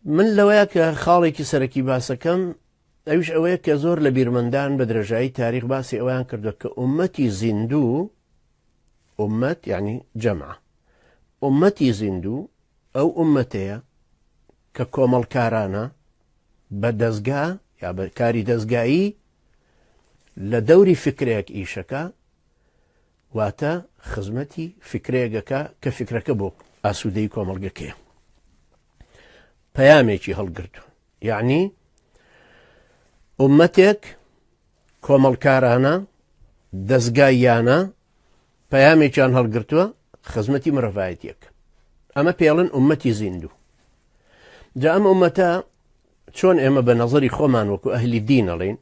من لەوەیە کە خاڵێکی سەرەکی باسەکەم ئەویش ئەوەیە کە زۆر لە بیرمەندان بە درێژایی تاریخ باسی ئەویان کردو کە ئومەتی زیندوو ئومەت یعنی جەمع ئومەتی زیندوو ئەو ئومەتەیە کە کۆمەڵکارانە بە دەستگا یا بە کاری دەستگایی لە دەوری فکرێک ئیشەکە واتە خزمەتی فیکرەیەک ئەکا کە فیکرەکە بۆ ئاسوودەی کۆمەڵگەکەیە پەیامێکی هەڵگرتووە یعنی ئومەتێک کۆمەڵکارانە دەستگاییانە پەیامێکیان هەڵگرتووە خزمەتی مرەڤایەتیەکە ئەمە پێڵن ئومەتی زیندوو جا ئەم ئومەتە چۆن ئێمە بە نەزەری خۆمان وەکو ئەهلی دین ئەڵێین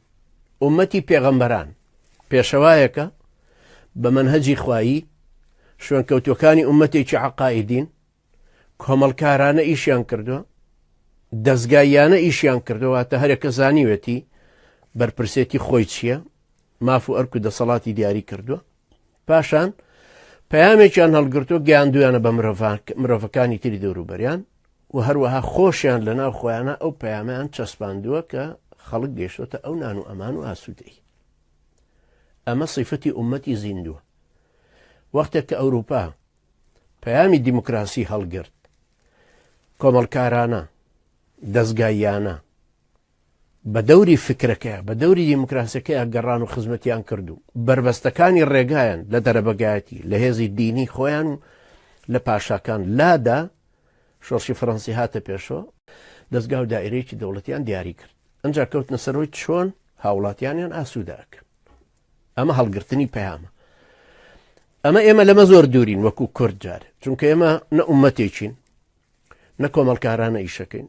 ئومەتی پێغەمبەران پێشەوایەکە بە مەنهەجی خوایی شوێن کەوتوەکانی ئومەتێکی عقائیدین کۆمەڵکارانە ئیشیان کردووە دەستگایانە ئیشیان کردوواتە هەرێکە زانیوێتی بەرپرسێتی خۆی چییە ماف و ئەرک و دەسەڵاتی دیاری کردووە پاشان پەیامێکیان هەڵگرتو گەیاندویانە بە مرۆڤەکانی تری دەوروبەریان و هەروەها خۆشیان لە ناو خۆیانە ئەو پەیامیان چەسپاندووە کە خەڵک گەشتوتە ئەو نان و ئەمان و ئاسوودەی ئەمە سیفەتی عومەتی زیندووە وەختێک کە ئەوروپا پەیامی دیموکراسی هەڵگرت کۆمەڵکارانە دەستگایانە بە دەوری فکرەکەیا، بە دەوری دیموکراسیەکەیا گەڕان و خزمەتیان کرد و بەربەستەکانی ڕێگایان لە دەرەبەگایەتی، لە هێزی دینی خۆیان و لە پاشاکان لادا، شۆڕشی فەرەنسی هاتە پێشەوە، دەزگا و دائیرەیەکی دەوڵەتیان دیاری کرد، ئەنجا کەوتنە سەر ئەوەی چۆن هاوڵاتیانیان ئاسوودە ئەکەن. ئەمە هەڵگرتنی پەیامە. ئەمە ئێمە لەمە زۆر دوورین وەکو کورد جارێ، چونکە ئێمە نە ئومەتێکین، نە کۆمەڵکارانە ئیشەکەین،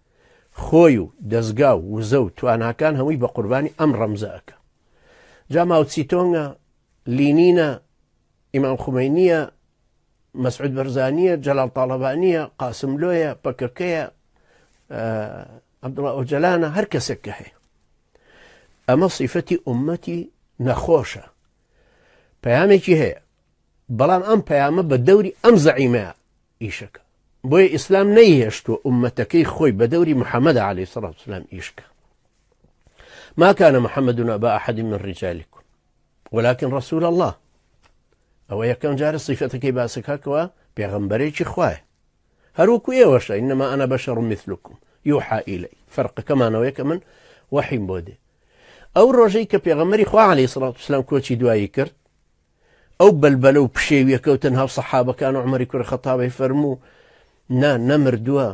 خۆی و دەزگا و وزە و تواناکان هەمووی بە قوربانی ئەم ڕەمزە ئەکا جا ماوچیتۆنگە لینینە ئیمام خومەینیە مەسعود بەرزانیە جەلال تاالبانیە قاسملۆیە پەکەکەیە عبدڵە ئۆجلانە هەر کەسێک کە هەیە ئەمە سیفەتی ئومەتی نەخۆشە پەیامێکی هەیە بەڵام ئەم پەیامە بە دەوری ئەم زەعیمەیە ئیشەکە بۆیە ئیسلام نەیهێشتووە ئومەتەکەی خۆی بە دەوری محەممەدا علی سەڵات سلام ئیشکە ماکانە محەممەدون ئەبا ئەحدی من ڕیجالیکم ولكن ڕسول الله ئەوە یەکەم جارە سیفەتەکەی باسەکەکەوە پێغمبەرێکی خوایە هەروەکو ئێوەشە ئینەما ئەە بەشە ڕمیثلکم یوحا ئیلی فەرقەکەمانەوەی کە من وەحیم بۆ دێ ئەو ڕۆژەی کە پێغەمەری خوا علی سڵات سلام کۆچی دوایی کرد ئەو بەلبەلە و پشێویە کەو تەنها و سەحابەکان و عومەری کوڕی خەتاب ئەی فەرموو نا نەمردووە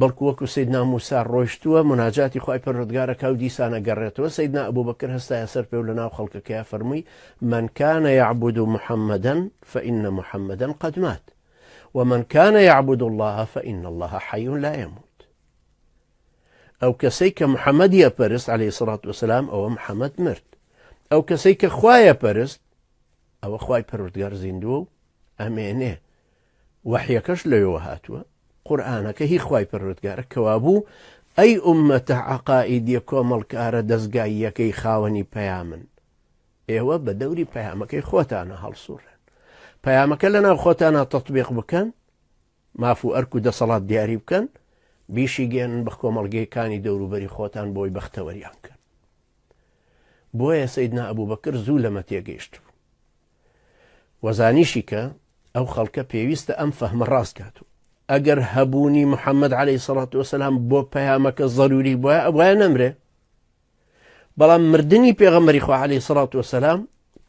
بەڵکو وەکو سەیدنا موسا ڕۆشتووە مناجاتی خوای پەروەردگارەکە و دیسانە گەڕێتەوە سەیدنا ئەبوبەکر هەستایە سەر پێ و لەناو خەڵکەکەیا فەرمووی من کان یعبد محمدا فإن محمدا قد مات ومن کان یعبد الله فإن الله حی لا يموت ئەو کەسەی کە محەمەدی ئەپەرست عەلەیهی سەڵات وەسەلام ئەوە محەمەد مرد ئەو کەسەی کە خوای ئەپەرست ئەوە خوای پەروردگار زیندووە و ئەمێنێ وەحیەکەش لەوێوە هاتووە قورآانەکە هی خوای پەروردگارە کەوابوو ئەی ئومەتە عقائیدیە کۆمەڵکارە دەستگاییەکەی خاوەنی پەیامن ئێوە بە دەوری پەیامەکەی خۆتانە هەڵسوڕێن پەیامەکە لە ناو خۆتانە تەطببیق بکەن ماف و ئەرک و دەسەڵات دیاری بکەن، بیشیگەیەنن بە کۆمەڵگەی کانی دەوروبەری خۆتان بۆی بەختەوەریان بکەن. بۆیە سەیدنا ئەبوبەکر زوو لەمە تێگەیشت بوو و زانیشی کە ئەو خەڵکە پێویستە ئەم فەهمە ڕاست کات و ئەگەر هەبوونی محەممەد عليهەی سەڵات وسلام بۆ پەیامەکە ضروری بواە ئەوە نەمرێ بەڵام مردنی پێغەمەری خوالی سەڵات وسلام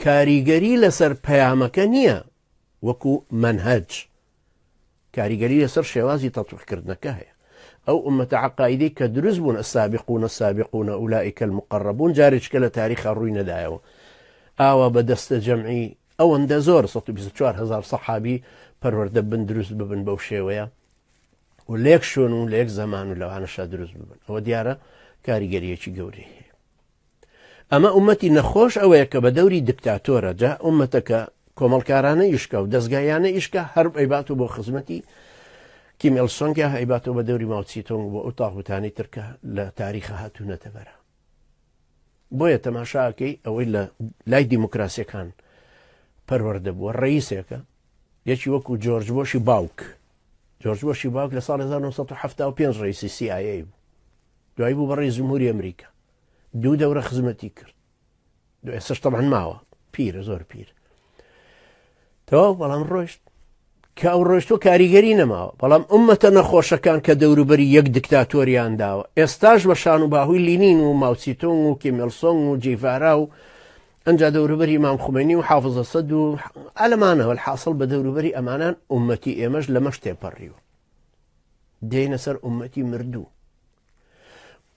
کاریگەری لەسەر پەیامەکە نییە وەکو مەنهەج کاریگەری لەسەر شێوازی تەتبیق کردنەکە هەیە. ئەو ئوممەتە عەقائیدەی کە دروست بوون، السابقون السابقون اولئک المقربون، جارێکیکە لە تاریخا ڕووی نەدایەوە. ئاوا بە دەستە جەمعی ئەوەندە زۆر، سەد و بیست و چوار هەزار سەحابی، پەروەردە ببن، دروست ببن بەو شێوەیە و لە یەک شوێن و لە یەک زەمان و لەوانەشە دروست ببن. ئەوە دیارە کاریگەرییەکی گەورەی هەیە. ئەمە ئومەتی نەخۆش ئەوەیە کە بە دەوری دکتاتۆرە جا ئومەتەکە کۆمەڵکارانە ئیشکا و دەستگایانە ئیشکە هەر ئەیبات و بۆ خزمەتی کیمێل سۆنگیا هەیباتەوە بە دەوری ماوچی تۆنگ بۆ ئەو تاغوتانی ترکە لە تاریخە هاتوونەتە بەرە بۆیە تەماشاکەی ئەوەی لە لای دیموکراسیەکان پەروەەردە بووە ڕئیسێکە یەکی وەکو جۆرج بۆشی باوک جۆرج بۆشی باوک لە ساڵ 1970 پێنج ڕیسی CIA بوو دوای بوو بە ڕیس جمهوری ئەمریکا دوو دەورە خزمەتی کرد دو ئێسش تەمان ماوە پیرە زۆر پیر تەواو بەڵام ڕۆشت کە ئەو ڕۆشتۆ کاریگەری نەماوە بەڵام ئومەتە نەخۆشەکان کە دەوروبەری یەک دکتاتۆریان داوە ئێستاش بە شان و باهوی لینین و ماوسیتۆنگ و کیملسۆنگ و جیڤارا و ئەجا دەوروبەری مام خومێنی و حافزە سەد و ئەلمانەوە حاصل بە دەوروبەری ئەمانان ئومەتی ئێمەش لەمەش تێپەڕیوە دێینە سەر ئومەتی مردوو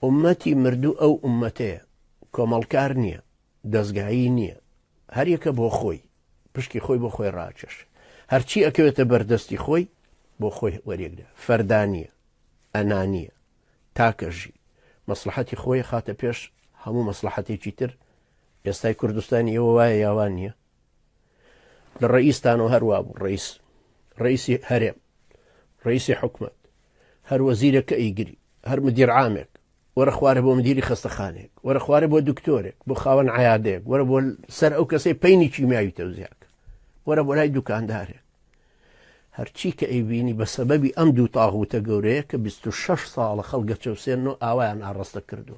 ئومەتی مردوو ئەو ئومەتەیە کۆمەڵکار نییە دەستگایی نییە هەریەکە بۆ خۆی پشکی خۆی بۆ خۆی ڕاکێش هەرچی ئەکەوێتە بەردەستی خۆی بۆ خۆی وەرێکدا فەردانیە ئەنانیە تاکەژی مەسلحەتی خۆی خاتە پێش هەموو مەسلحەتێکی تر ئێستای کوردستانی ئەوە وایە یاوان نییە لە ڕەئیس تانۆ هەر وابوو ڕەئیس ڕەئیسی هەرێم ڕەئیسی حکومەت هەر وەزیرەکە ئیگری هەر مدیر عامێک وەرە خوارە بۆ مدیری خەستەخانێک وەرە خوارە بۆ دکتۆرێک بۆ خاوەن عیادەیەک وەرە بۆ سەر ئەو کەسەی پینی کیمیاوی تەوزیاکە وەرە بۆ لای دوکاندارێک هەرچی کە ئەیبینی بە سەبەبی ئەم دوو تاغوتە گەورەیە کە 26 ساڵە خەڵگە چەوسێنەوە ئاوایان ئاڕاستە کردو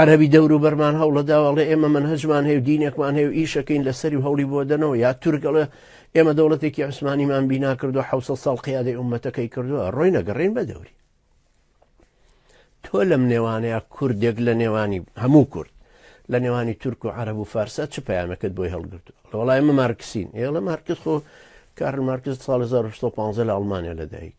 عربی دەورو بەرمان هەوڵە داواڵێ ئێمە من هەجمان هەیە و دینێکمان هەیە و ئیشەکەین لە سەری هەوڵی بۆدەنەوە یا تورگەڵە ئێمە دەوڵەتێکی عوسمانیمان بینا کردو ح ساڵ قیادی عومەتەکەی کردووە ڕۆی نەگەڕین بە دەوری تۆ لەم نێوانەیە کوردێک لە نێوانی هەموو کورد لە نێوانی تورک و عرب و فارسە چ پامەکەت بۆی هەڵگرتو لە وڵایمە مارکسین ئێڵە مارکت خۆ کارل مارکز سال 1950 لە ئەڵمانیا لەدایک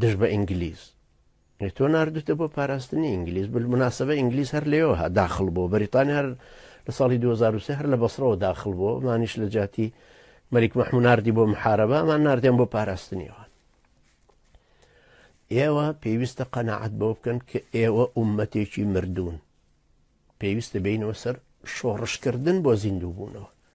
دژ بە ئینگلیز تۆ نردوتە بۆ پاراستنی ئینگلیز مناسبە ئینگلیز هەر لێەوە داخل بۆ بەریتانیا هەر لە ساڵی 2023 هەر لە بەسرەوە داخل بۆ مانیش لە جاتی مەریک مەحموناردی بۆ محارەبە ئەمان نردێن بۆ پاراستنیەوە ئێوە پێویستە قەنەعات بۆ بکەن کە ئێوە عومەتێکی مردوون پێویستە بینەوە سەر شۆڕشکردن بۆ زیندوو بوونەوە